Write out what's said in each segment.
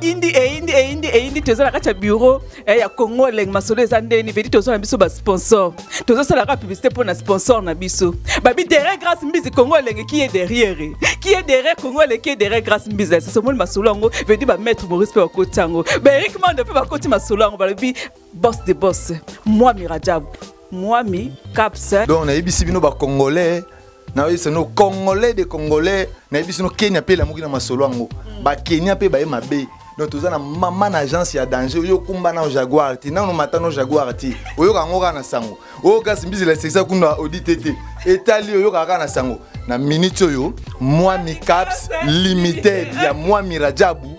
indi eyindi eh, eyindi eh, eyindi eh, toza na kati ya bureau ya congo elenge masolo eza ndeni vedi toza na biso basponsor tozosalaka publicité mpo na sponsor na biso babi derrière grâce mbizi congo elenge qui est derrière qui est derrière congo elenge qui est derrière grâce mbizi esasomoni masolo yango vedi bamaître maurice mpe bakoti yango baerik mando mpe bakoti masolo yango balobi boss de boss mwami rajab mwami caps donc nayebisi bino bacongolais nayebisi no congolais de congolais nayebisi no kenya mpe elamuki na masolo yango mm. bakenya mpe baye mabe donc toza na mama na agence ya danger oyo okumba nao jaguar te nano mata no jaguar te oyoka yango kaka na sango oyo kasi mbizela esekisa kuna audite te etali oyokaka kaka na sango na minute oyo mwami caps limited ya mwami rajabu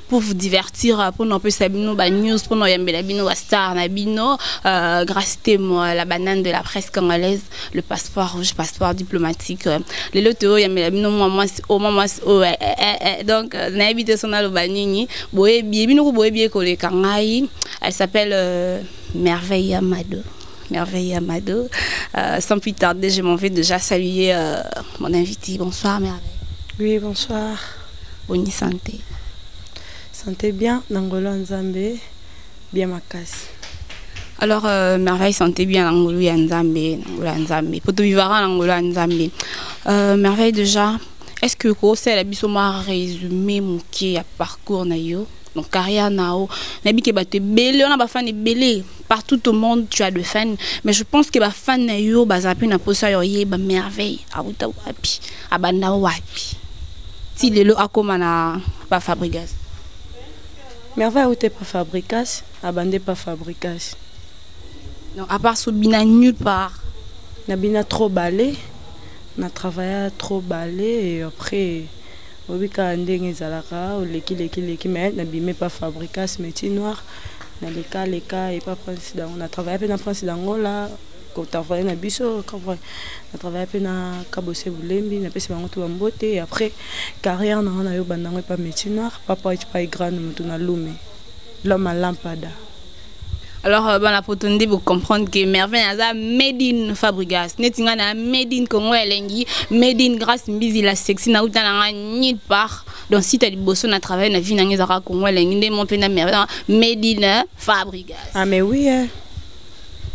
pour vous divertir euh, pour nous apesa bino ba news pour nous yambela bino ba star na bino euh, grâce moi la banane de la presse congolaise le passeport rouge passeport diplomatique euh, les loto yambela bino moi moi au moi au eh, eh, eh, donc na habité son aloba nini boye bien bino ko boye bien ko le kangai elle s'appelle euh, merveille amado merveille amado euh, sans plus tarder je m'en vais déjà saluer euh, mon invité bonsoir merveille oui bonsoir Boni sante? Sante bien na ngolo ya Nzambe bien makasi. Alors euh, merveille sante bien na ngolo ya Nzambe, na ngolo ya Nzambe. Poto vivara na ngolo ya Nzambe. Euh, merveille déjà, est-ce que ko sala biso ma résumé moke ya parcours na yo? Donc carrière nao, nabi ke bato ebele, on a ba fan ebele. Partout au monde, tu as de fans, mais je pense que ba fan na yo baza pe na posa yo ye ba merveille. Awuta wapi? abanda wapi ti lelo akoma na pa fabrigas merveille aute pa fabrigas abande pa fabrigas non à part so bina nulle part na bina trop bale na travailla trop bale et après oyebi kaka ndenge ezalaka oleki leki leki mais nabimi pa fabrigas métier noir naleka leka epa prince dango na travailla mpe na prince dangola kotravaille na biso na travaille mpe na kabose bulembi napesi bango to bambote après carrière nanga nayo bandango epa métier noir papa epai grande moto na lume loma lampada alors euh, bana poto nde bocomprendre que merveille aza made in fabrigas neti ngai na made in congo elengi made in grace mbizi la sexy nauta na ngai nil part donc si ta liboso na travaille na vie na ngai ezalaka congo elengi nde mo mpe na merveille made in euh, fabrigas ah mais oui eh.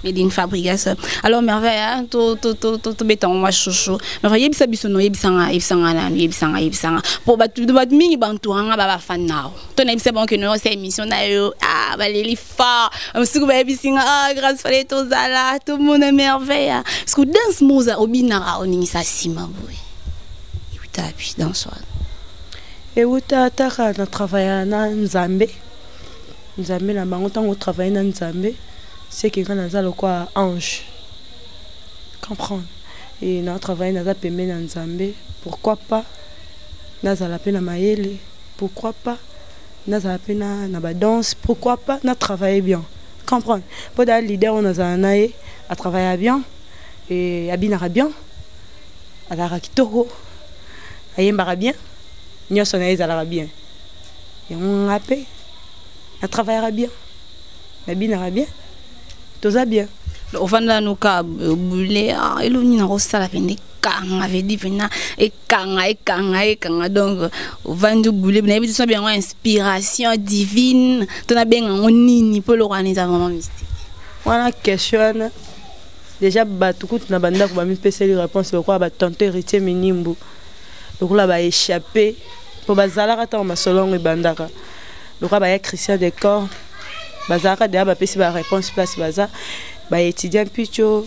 Made in Fabrigas. Alors merveille, hein, to to to to to beton moi chouchou. Merveille yebisa biso no yebisa nga yebisa nga na yebisa nga yebisa nga. Po ba tu ba mingi ba entoura nga ba ba fan nao. To na yebisa banque no c'est émission na yo. Ah ba leli fort. Msuku ba yebisa nga ah grâce fallait to zala tout mon merveille. Hein. Parce que dance moza obina ra oningisa sima boy. Yuta puis dans soir. ewuta ataka na travaya na nzambe nzambe na bango ntango otravaille na nzambe seke ngai naza lokola ange comprendre e na travaille naza pembeni ya nzambe pourquoi pas nazala mpe na mayele pourquoi pas nazala mpe na, na badanse pourquoi pas na travaille bien comprendre mpo daa leader oyo nazala na ye atravaillea bien e abinaka bien azalaka kitoko ayembaka bien nyonso na ye ezalaka bien yango nga mpe na travaillaka bien nabinaka bien toza bien ofandela noka euh, bule ah, eloko nini nakosala pende ekanga vedi mpena ekanga ekanga ekanga donc ovandi obule nayebi te sobi yango inspiration divine to nabenga yango nini mpo eloko wana eza vraiment mystique wana question wana déjà bato kutu na bandako bamipeseli réponse lokola batonto héritier minimbu lokola ba échappé mpo bazalaka ntango masolo yango ebandaka lokola baya christian de corps bazalaka deya bapesi ba réponse place baza baétudia mpico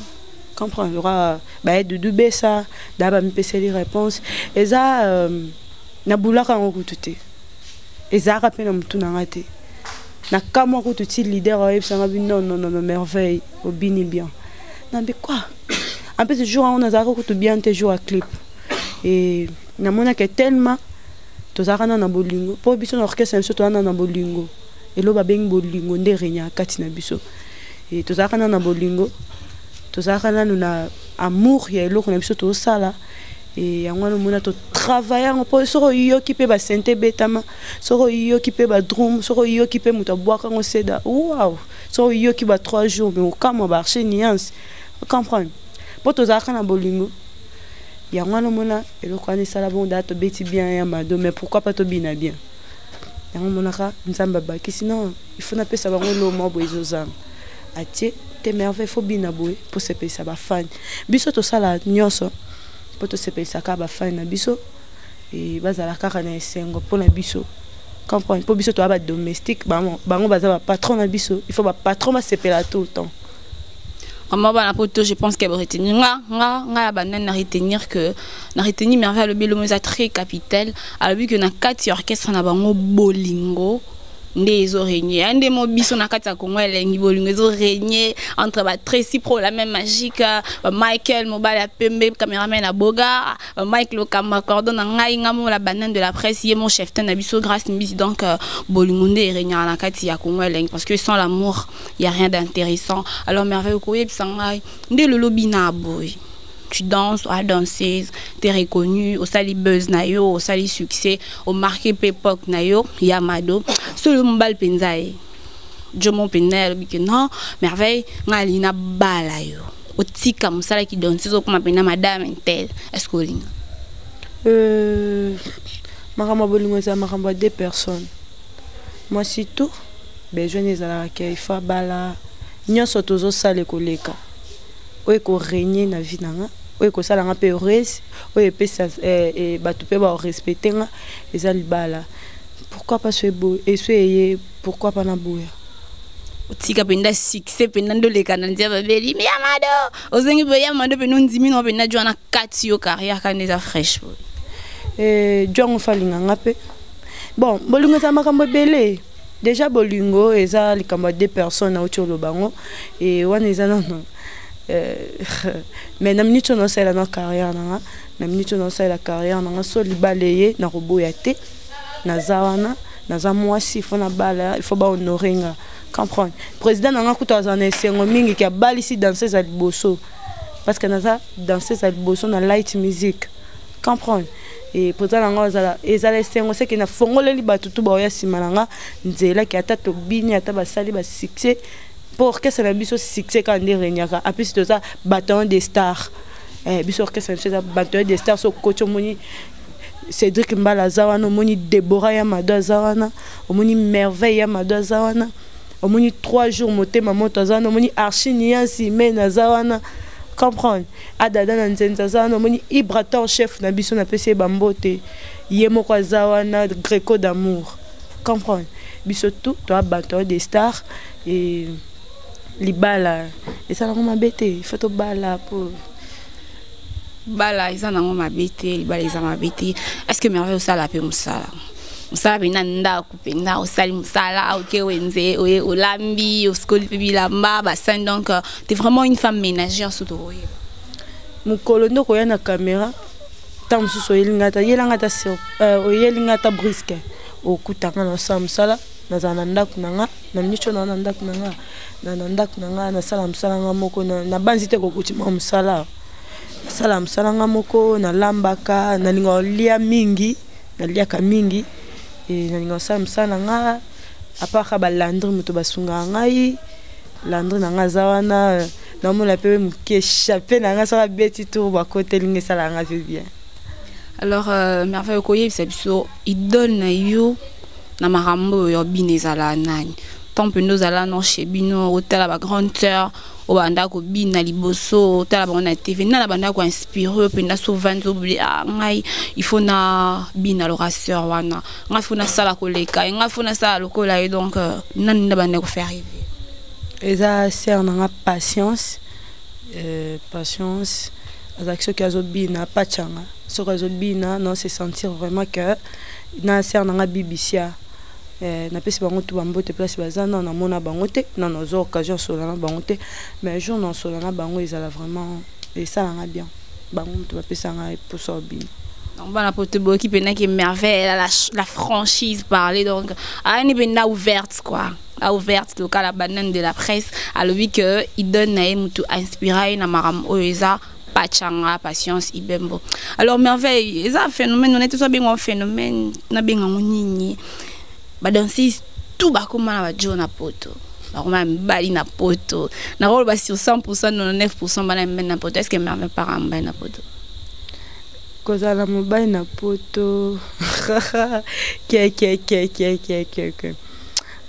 comprendre lokola baya dudu besa deya bamipeseli réponse eza euh, nabulaka yango kutu te ezalaka mpe na motu na ngai te nakamwa kutu ti leader oyebisanga bi non non non merveille obini bien nambi quoi en plus jour yango nazalaka kutu bien te jour ya clip e namonaka tellement tozalaka na na bolingo mpo biso na orchestre na biso toza na na bolingo elo babengi bolingo nde regnaka kati na biso e tozalaka na na bolingo tozalaka nanu na amour ya eloko na biso tozosala e yango wana omona totravaille yango mpo soki oyoki mpe basente ebetama soki oyoki mpe badrum soki oyoki mpe moto abwaka yango seda wow soki oyoki ba 3 jours me okamwa baarche nuance comprendre mpo tozalaka na bolingo yango wana omona eloko wana esala bongo daa tobeti bien ya mado mais pourquoi pas tobina bien yango omonaka nzambe abakisi non ifo napesa bango eloo mwa boye ezozanga atie te merveille fo bina boye mpo sepelisa bafani biso tosala nyonso mpo tosepelisaka bafani na biso e, bazala kaka na esengo mpo na biso comprendre mpo biso toya badomestique bango baza bapatron na biso il faut bapatron basepela tout le temps vraiment bana poto je pense qu'elle retenir nga nga nga ya banani na retenir que na retenir merveille alobi elomo eza très capital alobi que na kati ya orchestre na bango bolingo nde ezo regne ya nde mo biso na kati ya kongo elengi bolingo ezo regne entre ba tracy pro la même magique ba michael mobali ya pembe cameraman ya boga ba mike lokamba cordon na ngai nga mo la banane de la presse ye mo cheftain na biso grace mbisi donc euh, bolingo nde eregnaka na kati ya kongo elengi parce que sans l'amour y a rien d'intéressant alors merveille okoyebisa ngai nde lolobi na boye tu danses, à danseuse, t'es reconnu, au sali buzz nayo, au sali succès, au marqué époque nayo, Yamado. Solo mbal penzaye. Jomo penel bike non, merveille, ngali na bala yo. Otika musala ki danseuse okoma pena madame intel. Est-ce que olinga? Euh makambo bolingo eza makambo ya deux personnes. mwasi tu besoin nde ezalaka ke ifo abala nyonso tozosala ekoleka oyo ekoregne na vie na nga oyo ekosala nga mpe heureuse oyo epesa eh, eh, bato mpe barespecte nga eza libala pourquoi pas so eso eye pourquoi pas naboya otika mpenza succès mpenza nde oleka na nzia babeli me ya mado ozongi mpe ya mado mpenza ondimi nao mpenza jwana kati yo carrière kaka nde eza fraîche boye eh, jwango falinga nga mpe bon bolingo eza makambo ebele déjà bolingo eza likambo ya deux personnes auti oloba yango e wana eza nano euh, mais na minute oyo naosalela na carrière nanga na minute oyo naosalela carrière nanga so libala eye nakoboya te naza wana naza mwasi ifo nabala ifo bahonore nga comprendre président nanga kutu azala na esengo mingi ke abalisi danseuse ya liboso parce que naza danseuse ya liboso na light musique comprendre e mpoza na ngai ezala ezala esengo seke nafongoleli bato tu baoya nsima na ngai nzela ke ata tobini ata basali basuccès mpo orchestre na biso succès kaka nde regnaka apesi toza bataillon de star eh, biso orchestre na biso eza bataillon de star so koti omoni cédrik mbala aza wana omoni débora ya mado aza wana omoni merveille ya mado aza wana omoni trois jours motema moto aza wana omoni archi niansi mene aza wana comprendre adada na nzenza aza wana omoni ibrator chef na biso napesi ye bambote ye moko aza wana greco d'amour comprendre biso tout toa bato ya des stars e libala eza nango mabe te ifo tobala po bala eza nango mabe te libala eza mabe te est ce que merveille osala mpe mosala mosala mpe na ndako mpenza osali mosala oke wenze oye olambi osikoli mpe bilamba basani donc euh, te vraiment une femme ménagère soki tokoyeba mokolo nde okoya na caméra ntango mosusu oyeli ngai ata yela ngai ata euh, oyeli ngai ata briske okutanga na osala mosala nazala na ndako na nga na miso na na ndako na nga na na ndako na nga nasala mosala nga moko nabanzi te kokutima mosala nasala mosala nga moko nalambaka nalinga olia mingi naliaka mingi e, nalinga kosala mosala na nga aparka balandri moto basungaka ngai landri na nga aza wana namona mpe moke chape na nga soki abeti tour bakoteli nga esalaka nga mpe bien alors euh, merveille okoyebisa biso idole na yo na makambo oyo ya bino ezala nani temps mpenza ozala no chez bino otala bagrande sœur oyo babanda kobina liboso otala bango na tv nana banda koinspire oyo mpenza so vandi obli a ah, ngai ifo na bina lorasseur wana ngai fo nasala koleka ye ngai fo nasala lokola ye donc euh, nani nda banda kofaire reve eza sere nanga patience euh, patience azalaki soki azobina pachanga soki azobina non se sentir vraiment que na sere nanga bibisia Eh, napesi bango tu bambote place baza nano namona bango te nano azwa occasion asola na bango te mais jour na osola na bango ezala vraiment esalanga bien bango moto bapesanga eposa obima donc bana poto boyoki mpenaki merveille la, la franchise parler donc ayani mpenza ouverte quoi a ouverte local la banane de la presse alobi que idole na ye motu inspira ye na makambo oyo eza pachanga patience ibembo alors merveille eza phénomène on est tous bien un phénomène na bien un nini ba danser tout ba comme na ba jona poto ba comme bali na poto na rôle ba sur 100% 99% bana mbe na poto est-ce que mère me parent mbe na poto kozala mobali na poto kiekiekiekiekiekiekie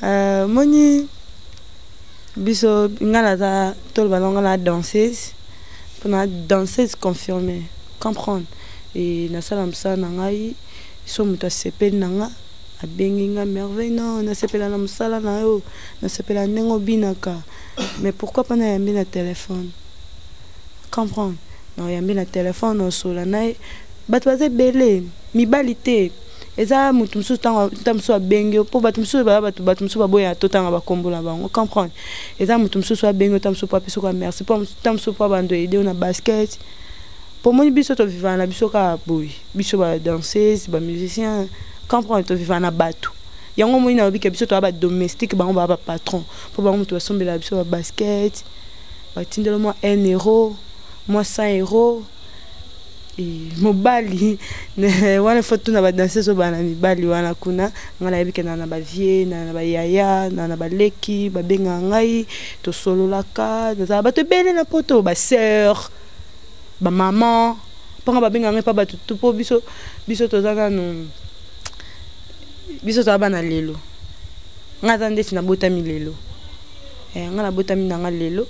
euh, moni biso nga naza toloba nango na danseuse mpona danseuse confirme comprendre e nasala mosala na ngai so moto asepeli na nga abengi nga merveille no nasepela na mosala na yo nasepela ndenge obinaka mais pourquoi mpo nayambi na telefone comprendre naoyambi na telefone osola na ye bato baza ebele mibali te eza moto mosusu ntango ta mosusu abengi yo mpo bato mosusu baya bato bato mosusu baboya totanga bakombo na bango comprendre eza moto mosusu abengi yo ta mosusu mpo apesi oka merci mpo ta mosusu mpo abando ede yo na basket mpo omoni biso tovivana na biso kaka boye biso badanseuse bamusicien comprendre tovivana na bato yango omoni nalobi ke biso toya badomestique bango baya bapatron mpo bango moto basombela biso babasket batindelo mwa 1 euro mwa 100 euro mobali wana fo tuna badanseuse oyo bana mibali wana kuna ngai nayebi kenda na bavie na bayaya na na baleki babengaka ngai tosololaka nazala bato ebele na poto baseur bamaman mpo ngai babengaka ngai mpa bato tu mpo biso biso toza nanu biso toza bana lelo ngai aza ndeti nabotami lelo eh, ngai nabotami na ngai lelo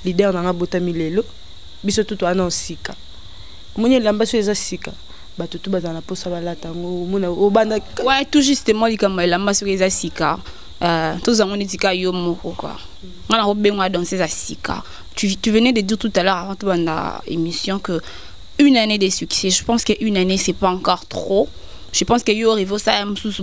leader nanga abotami lelo biso tutu ana osika omoni elamba so eza sika bato tu bazala na mposa balata yango omona obanda ouais, tout justement likambo ya elamba soki eza sika euh, tozango neti ka yo moko kua nga na kobengwa danse eza sika tu, tu venais de dire tout à l'heure avant tobanda émission que une année de succès je pense que une année c'est pas encore trop je pense que yo orive osala mosusu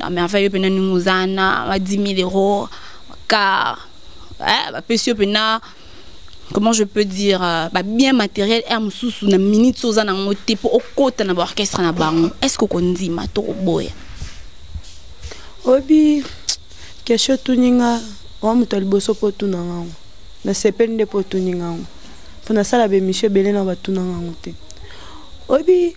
non mais enfin yo pena ndenge oza na ba 10 000 euros car eh, bapesi yo pena comment je peux dire euh, ba bien matériel air mosusu na minute oza nango te mpo okota na baorchestre na bango est ce que okondima to koboya obi kesho otuni nga owa moto ya liboso mpo otuna nga yango nasepeli nde mpo otuni nga yango mpo nasala bemisio ebele na batuna nga yango te obi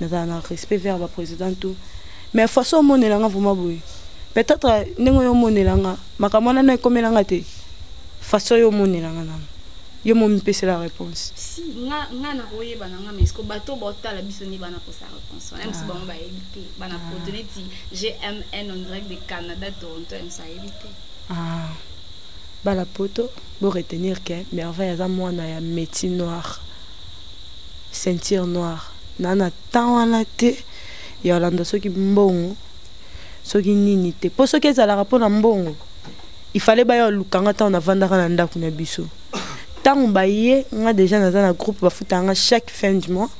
nazala na respect vers ba président tout mais façon omonela nga vraiment boye peut-être ndenge oyo omonela nga makambo wana na ekomela nga te façon yo omonela nga nano yo momipesela réponse si nga nga na koyeba na nga mais ko bato botala biso ni bana posa réponse wana biso ah. bango bayebi te bana ah. poto neti gmn on dirait de canada toronto ya biso ayebi te ah. bana poto bo retenir ke merveille aza mwana ya métier noire ceinture noire na na temps wana te ya olanda soki mbongo soki nini te mpo soki ezalaka mpo na mbongo il fallait baya oluka nga ntango navandaka na ndako na biso ntango baye nga deja naza na groupe bafutaka nga chaque fin du mois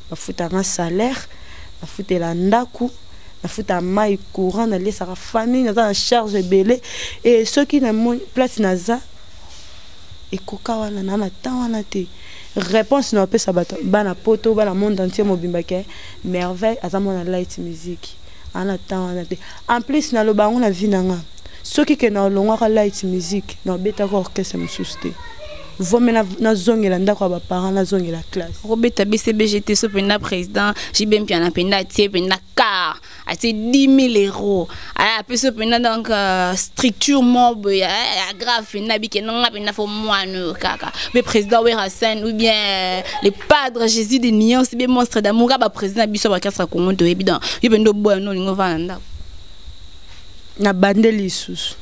bafutaka nga salaire nafutela ndako nafutaka mai courant naliesaka famille naza na charge ebele e soki na place naza Ekoka wana na na temps wana te. Reponse na opesa bato bana poto bana monde entier mobimba ke merveille aza mwana light musique ana temps wana te en plus naloba yango na vie na nga soki ke na olongwaka light musique na obetaka orchestre mosusu te vome nazongela ndako ya baparent nazongela classe okobeta bcbg te so mpenza président jb mpiana mpenza atie mpenza car atie 10 000 euros apesi yo mpenza donc euh, structure mob ya euh, grave mpenza bike nanga mpenza fo mwana oyo kaka mpe président werasen ou bien euh, le padre jésus de nuance be monstre d'amour aba président biso ya bakasa congo toyebi donc yo mpenza oboya no olingi ovanda ndako na bande lisusu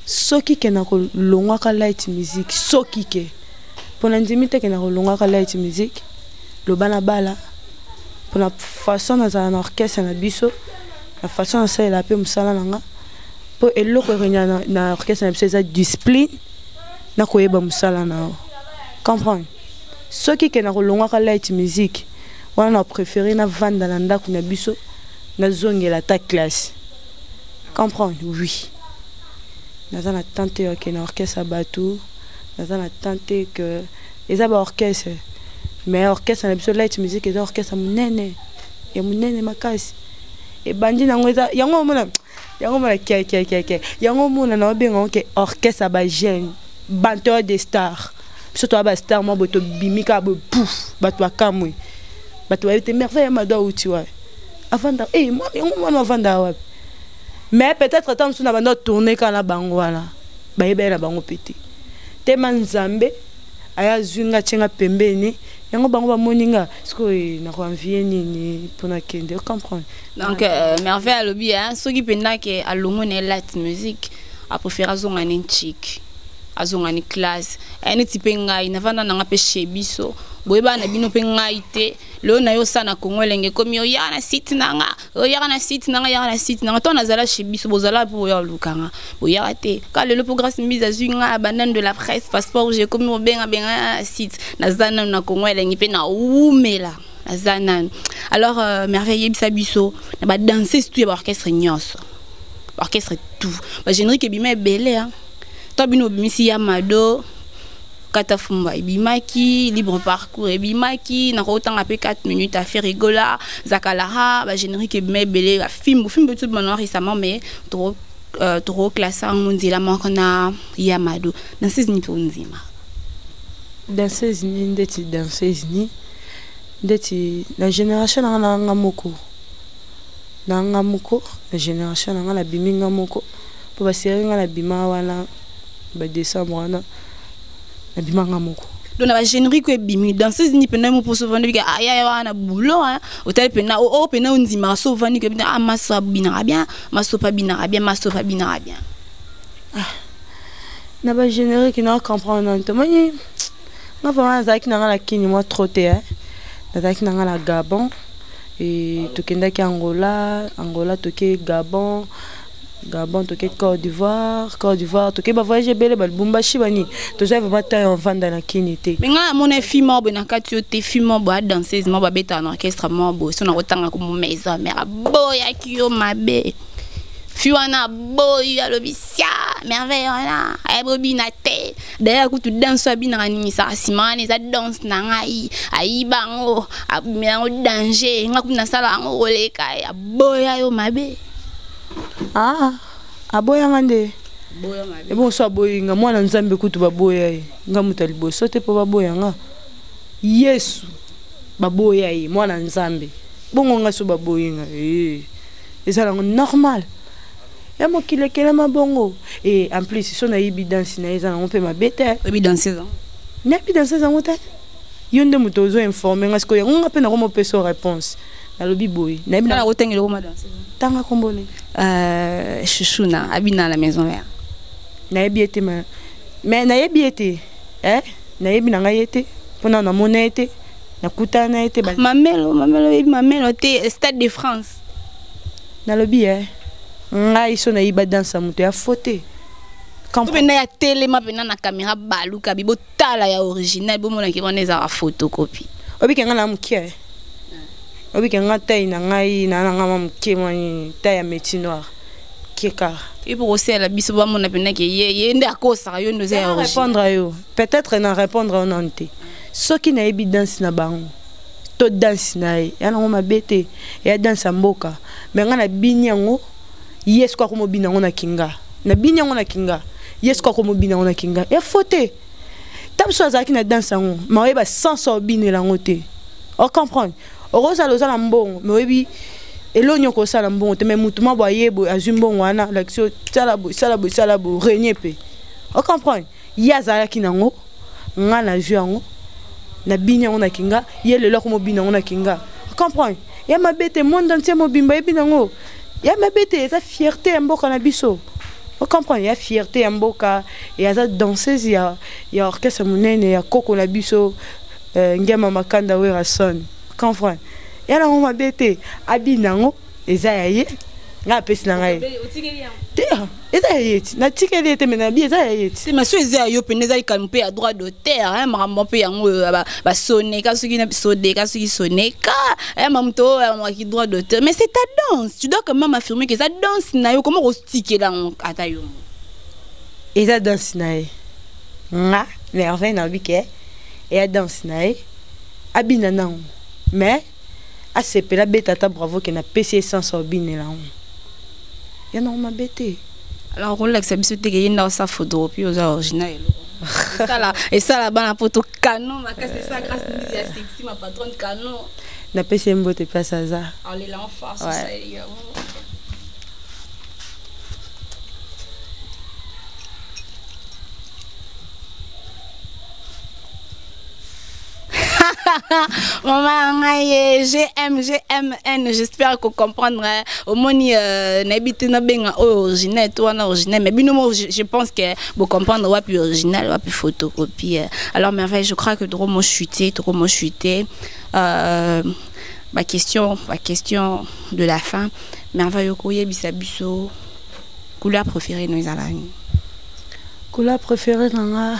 soki ke nakolongwaka light musique soki ke mpo na ndimi te ke nakolongwaka light musique loba na bala pona façon nazala na orchestre na biso na façon nasalela mpe mosala na nga mpo eloko ekenya na, na orchestre na biso eza discipline na koyeba mosala na yo comprendre soki ke na kolongwaka light musique wana na préféré navanda na ndako na biso nazongela ata classe comprendre oui naza na tante oke na orchestre ya bato naza na tante que eza ba orchestre mais orchestre na biso light music eza orchestre monene ya monene makasi ebandi nango eza yango omona yango omona kiakiakiakia yango omona na obenga yango ke orchestre ya bajeune banteur de star biso toya bastar mwa boye tobimi kaka boye pouf bato bakamwe bato bayebi te merveille ya mado auti wapi avanda eh, yango mwana avandaka wapi mais peut-être ata mosusu na banda tourne kaka na bango wana bayebi ye na bango mpe te tema nzambe aye azwi nga atye nga pembeni yango bango bamoni nga sikoyo nakoanvie nini mpo nakende ocomprendre donc euh, merveille alobi soki mpenza ke alongo na ye light music apréfère azonga ne nchiki azonga ni classe aye neti mpe ngai navanda nanga mpe chez biso boyebana na bino mpe ngai te lelo na yo osala na kongo elenge ekomi oya na site nanga oyaka na site nanga yaka na site nanga to nazala chez biso bozala mpo boya olukanga boyaka te ka lelo mpo grace mbizi azwi nga abandane de la presse passeport jekomi mobengabenga na site naza nanu na kongo elengi mpe nawumela naza nanu alors euh, merveille yebisa biso na badanse surtout ya baorchestre nyonso baorchestre tout bagénerique ebima ebele hein. to bino bimisi ya mado kata fumba ebimaki libre parcours ebimaki nakotanga mpe 4 minutes affaire egola zakalaha bagénérique ebima ebele bafimbu fimbu etu bimana récemment mais toko euh, tokoklase yango nzela moko na ya mado danseuse ni mpe ondima danseuse ni ndeti danseuse ni ndeti na génération nanga nanga moko na nga moko na generation na nga na bimi nga moko po ba serrer nga na bima wana ba décembre wana na bima nga moko donc na ba générique e bimi danseuse ni pena mo poso vandi ke aya ya wana boulot hein hôtel pena o o pena ondi ma so vandi ke ah maso bina bien maso pa bina bien maso pa bina bien ah na ba générique na comprendre ntomani nga vraiment nazalaki na nga na kini mwa trop te eh. nazalaki na nga na gabon e, tokendaki angola angola toke gabon gabon toke côte d'ivoire côte d'ivoire toke bavoyage ebele balibumbashi bani tozwa vraiment temps ya ovanda na kini te me ngai namona fi moko boye na kati yo te fi moko boye adanseuse moko babetaka na orchestre moko boye so nakotanga ko maison mare aboyaki yo mabe fi wana aboyi alobi sia merveille wana ayebobina te daya kutu danse oyo abinaka ningisaka nsima wana eza danse na ngai ayiba yango abimela yango danger nga kutu nasala yango koleka ye aboya yo mabe ah, aboya nga nde ebo mosu aboyi nga mwana nzambe kutu baboya ye nga moto ya liboso te mpo baboya nga yesu baboya ye mwana nzambe bongo nga so baboyi nga ee eh, eza nango normal ya mokili ekelama bongo e en plus so nayebi danse na ye eza nango mpe mabe te oyebi danse eza nayebi danse ezango te yo nde moto ozo informe nga sikoyo yango nga mpe nako mopesa yo réponse nalobi boye nayebi nakotangela okoma danse tanga kombo ne euh, chuchuna abina la maison mère nayebi ye te ma mais nayebi ye te eh? nayebi na ngai ye te mpo na namona ye te nakutana ye te mamelo mamelo oyebi mamelo te stade de france nalobi eh ngai so nayiba danse ya moto ya fote mpena ya telema mpena na kamera baluka bi botala ya original bomonaki wana ezaka photocopie obike ngai na moke eh. obike ngai tai na ngai na nanga ma moke mwani tai ya meti noir kekaka ipo kosela biso bamona mpena ke ye ye nde akosaka yo nde oza ya original répondre yo peut-être na répondre yo nanu te soki nayebi danse na bango to danse na ye ya nango mabe te ya danse ya mboka me ngai nabini yango ye soki akomobina yango na kinga nabini yango na kinga ye soki akomobina yango na kinga ya fo te ta biso azalaki na danse yango ma oyeba sansa obinela yango te ocomprendre okozala oza na mbongo me oyebi eloko nini okosala mbongo te me motu mwa boye boye azwi mbongo wana lakisi sala boye sala boye sala boye renie mpe ocomprendre ye azalaki nango nga nazwi yango nabini yango na kinga ye lelo akomobina yango na kinga comprendre ya mabe te monde entier mobimba yebi nango ya mabe te eza fierté ya mboka na biso ocomprendre ya fierté ya mboka e aza danseuse ya, ya orchestre monene ya koko na biso uh, ngema makanda werason comprendre ya nango mabe te abina yango eza ya ye ngai apesi na ngai te ah, eza ya ye ti natikeli ye te me nabi eza ya ye ti ma so eza ya yo mpena eza likambo mpe ya droit d'auteur makambo mpe yango oyo euh, basoneka soki sodeka soki soneka ma moto oyo amamaki droit d'auteur mais c'est ta danse tu dois quand même affirmer que eza danse na yo koma kotikela yango ata yo eza danse na ye nga merveille nayobi ke eya danse na ye abina nango mais asepela abeta ata bravo ke napesi ye sense obinela yango ya nango mabe te alors okolakisa biso teke ye nda osa photokopi oza original eloko esala esala bana poto canon makasi esa grâce mbizi ya sexy ma patronne canon napesi ye mbote mpe asa aza alela en face osali yango maman ngai eh, gm gmn j'espère ko comprendre eh. omoni euh, nayebi te nabenga oyo original to wana original mais bino mo je pense que bocomprendre wapi original wapi photocopie eh. alors merveille je crois que trop mo chuté trop mo chuté euh, ma question ma question de la fin merveille okoyebisa biso couleur préférée no ezalani couleur préférée na nga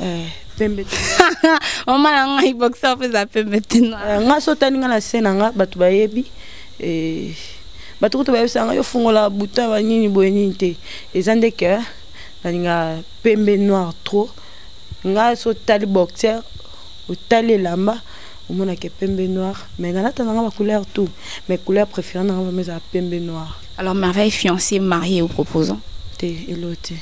Eh, pembe te mama na ngai boxer mpe eza pembe te eh, nga so otani nga na se na nga bato bayebi eh, bato kutu bayebisa nga yo fungola buta banini boye nini te eza nde ke nalinga pembe noir trop nga so otali boxer otali elamba omonake pembe noir mais nalata na nga bacouleur tout mais couleur préféré na nga vraimen eza pembe noir alors merveille fiancé marié ou proposant te elo te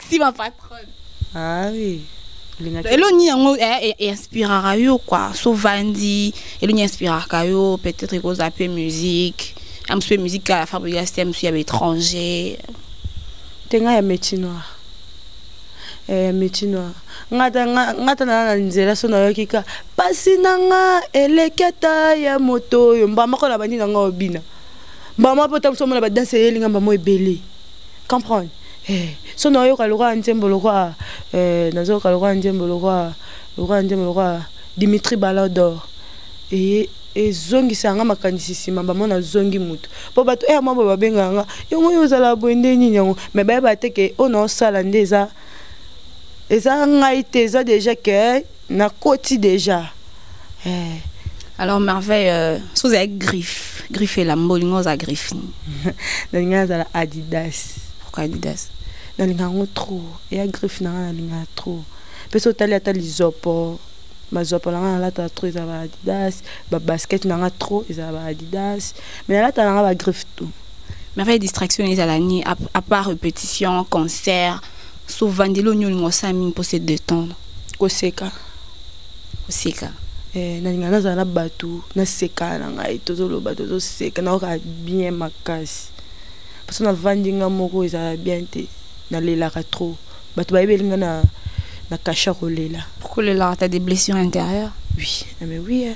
merci ma patronne ah oui eloni yango eh, eh, inspiraka yo kua so vandi eloni inspiraka yo peut-être ekozala mpe musique ya mosu mpe musique kaka ya fabrigas te ya mosu ya baétranger te ngai ya métier noir eh, ya métier noir nga ta naa na nzela so nayoki ka mpasi na nga eleki ata ya moto oyo mbamako na bandi na nga obina mbamako mpe otambusa omona badanse eyelinga mbamo ebele comprendre eh, so nayoka lokola nzembo lokola eh, nazoyoka lokola nzembo lokola lokola nzembo lokola dimitri balodor eye ezongisa yanga makanisi nsima bamona azongi motu mpo bato eya eh, mwa boye babengaka nga yango oyo ozala boye nde nini yango me bayeba te ke oyo naosala nde eza eza ngai te eza deja ke nakoti deja eh. alors merveille euh, so ozali griffe griffe elamba olingi oza griffe nini nalingi azala adidas pourquoi adidas nalinga yango trop eya griffe nanga nalinga trop mpe so otali ata lizopo bazopo nanga nalataka trop eza ba adidas babasket nanga trop eza ba adidas mais nalataka nanga bagriffe tout merveille distraction ezala nini apart repétition concert sovandeli oyo olinga osala mingi mpo se detendre koseka koseka eh, nalinga nazala na bato naseka na ngai tozoloba tozoseka naoka bien makasi parce navandi nga moko ezala bien te nalelaka trop bato bayebeli nga na na kasha kolela kolelaka ta des blessures intérieures oui ah, mais oui eh.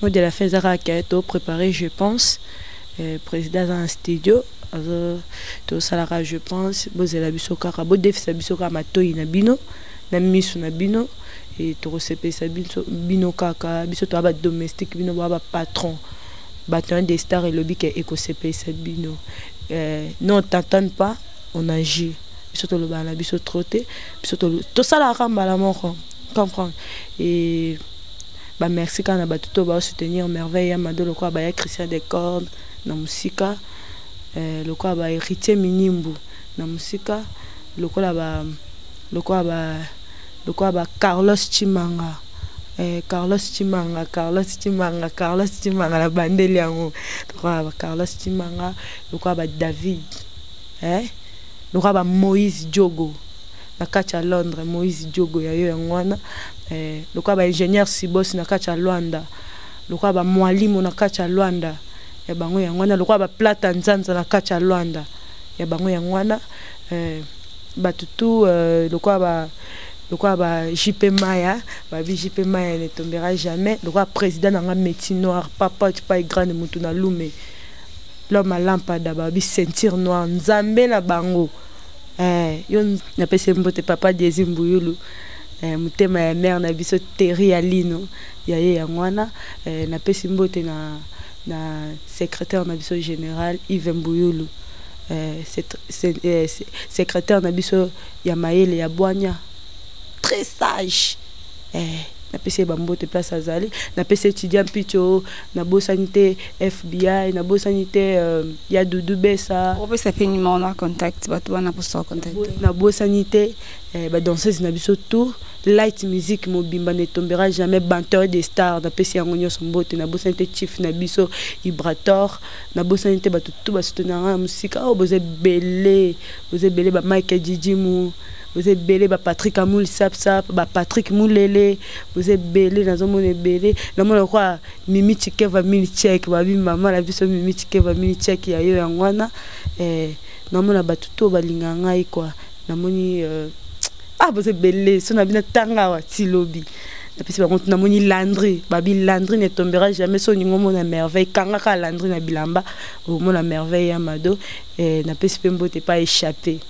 Mot de la fin eza kaka ke to prepare je pense eh, président aza na studio azo tosalaka je pense bozela biso kaka bodefisa biso kaka matoi na bino na miso na bino e tokosepelisa biso bino kaka biso toya badomestique bino boya bapatron bato ya de star elobi ke ekosepelisa bino eh, non tantane pas on agit biso tolobaka na biso trop te biso tosalaka mbala moko comprendre e Ba merci kaka na bato to ba soutenir merveille ya mado lokola ba ya Christian de Corde na musika euh, lokola ba héritier minimbu na musika lokola ba lokola ba lokola ba Carlos Chimanga eh, Carlos Chimanga Carlos Chimanga Carlos Chimanga na bandeli yango lokola ba Carlos Chimanga lokola ba David eh lokola ba Moïse Diogo na kati ya Londres Moïse Diogo ya yo yango wana eh, lokola ba ingénieur Sibos na kati ya Luanda lokola ba mwalimu na kati ya Luanda ya bango yango wana lokola ba plata nzanza na kati ya Luanda ya bango yango wana eh, bato tu eh, lokola ba lokola ba JP Maya ba JP Maya ne tombera jamais lokola président na nga métier noir papa tu pas grande mutu na lume l'homme à lampada ba bi ceinture noire nzambe na bango Eh, yo napesi mbote papa Diezi Mbuyulu eh, motema ya mère na biso Terry Alino ya ye yango wana eh, napesi mbote na, na secrétaire na biso général Yves Mbuyulu eh, eh, secrétaire na biso ya mayele ya bwanya très sage eh, napesi ye bambote place azali napesi etudiant mpico nabosani te fbi nabosani te euh, ya dudu besa opesa mpe numero na contact bato wana mposa bacontacte nabosani te eh, badanseuse na biso tout light musique mobimba ne tombera jamais banteur des stars napesi yango nyonso mbote nabosani te chief na biso ibrator nabosani te bato tu basoto na ngai ya mosika oyo oh, boza ebele boza ebele bamike jijimu boza ebele ba patrick amuli sapsap ba patrick mulele boza ebele nazomona ebele namona kwa mimi chikeva mini chek babi mama na biso mimi chikeva mini chek ya yo yango wana eh, namona bato to balinga ngai kwa namoni euh, ah boza ebele so na bino tanga awa ti lobi napesi bango tuna moni landri babi landri ne tombera jamais so olingi omona merveille kangaka landri na bilamba omona merveille ya mado eh, napesi mpe mbote epai echappe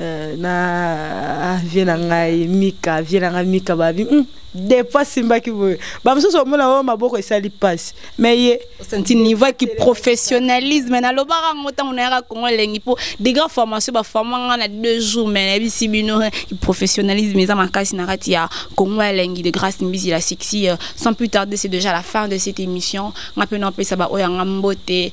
Euh, na vie na ngai mika vie na ngai mika babi mm, depa simbaki boye bamosusu omona oyo maboko esali mpasi mai ye osanti niveau ki professionnalisme nalobaka yango ntango nayaka kongo elengi mpo degré formation baforma nga na deux jours mai nayebisi bino professionnalisme eza makasi na kati ya kongo elengi de grâce mbisi la sexy euh, sans plus tarder c'est déjà la fin de cette émission nga mpe naopesa baoyo yanga mbote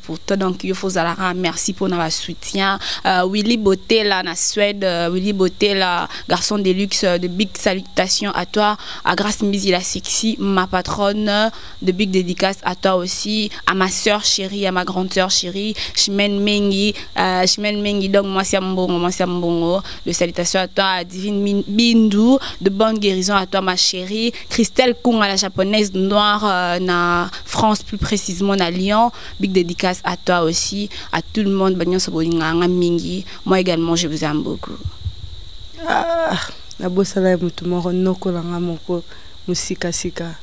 pour toi donc yo fozalaka merci pour na soutien euh, Willy Botela na Suède euh, Willy Botela garçon de luxe euh, de big salutations à toi à Grace Mbizi la sexy ma patronne euh, de big dédicace à toi aussi à ma sœur chérie à ma grande sœur chérie Chimène Mengi euh, Chimène Mengi donc moi c'est Mbongo moi c'est Mbongo de salutations à toi à Divine Bindou de bonne guérison à toi ma chérie Christelle Kunga, la japonaise noire euh, na France, plus précisément à Lyon. Big dédicace à toi aussi, à tout le monde. Mingi. Moi également, je vous aime beaucoup. Ah, la bossa la mutu moro noko la moko musika sika.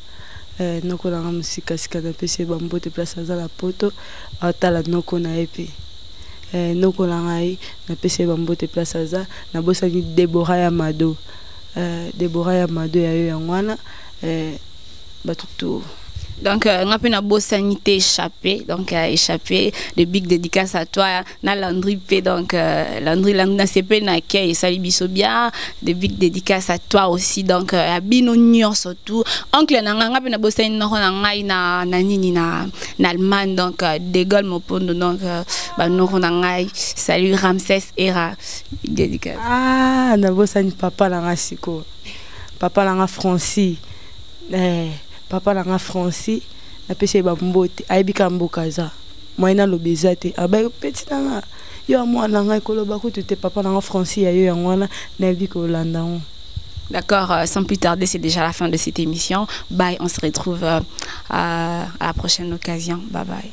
Eh, noko la musika sika na pese bambo te place à la poto. Atala noko na epi. Eh, noko la ngai na pese bambo te place à na bossa ni Deborah Yamado. Euh, Deborah ya mado ya yo yango wana euh, bato to donc euh, nga mpe nabosani te échappé donc euh, échappé de big dédicace à toi na landry mpe donc euh, landry landry nasepeli na kei esali biso bien de big dédicace à toi aussi donc euh, ya bino nyonso tout oncle na ngai nga mpe nabosani noko na ngai na, na nini na, na allemagne donc euh, de gaulle mopondo donc euh, banoko na ngai salut ramses era Dédicace. Ah, nabosani papa na nga siko. Papa na nga Francis. Eh, papa na nga Francis. Napesi ye bambote. Ayebi ka mboka aza. Moyen aloba eza te. Abaye peti na nga. Yo ya mwana na ngai koloba kutu te papa na nga Francis ya yo yango wana nayebi kolanda yango. D'accord, euh, sans plus tarder, c'est déjà la fin de cette émission. Bye, on se retrouve euh, à à la prochaine occasion. Bye bye.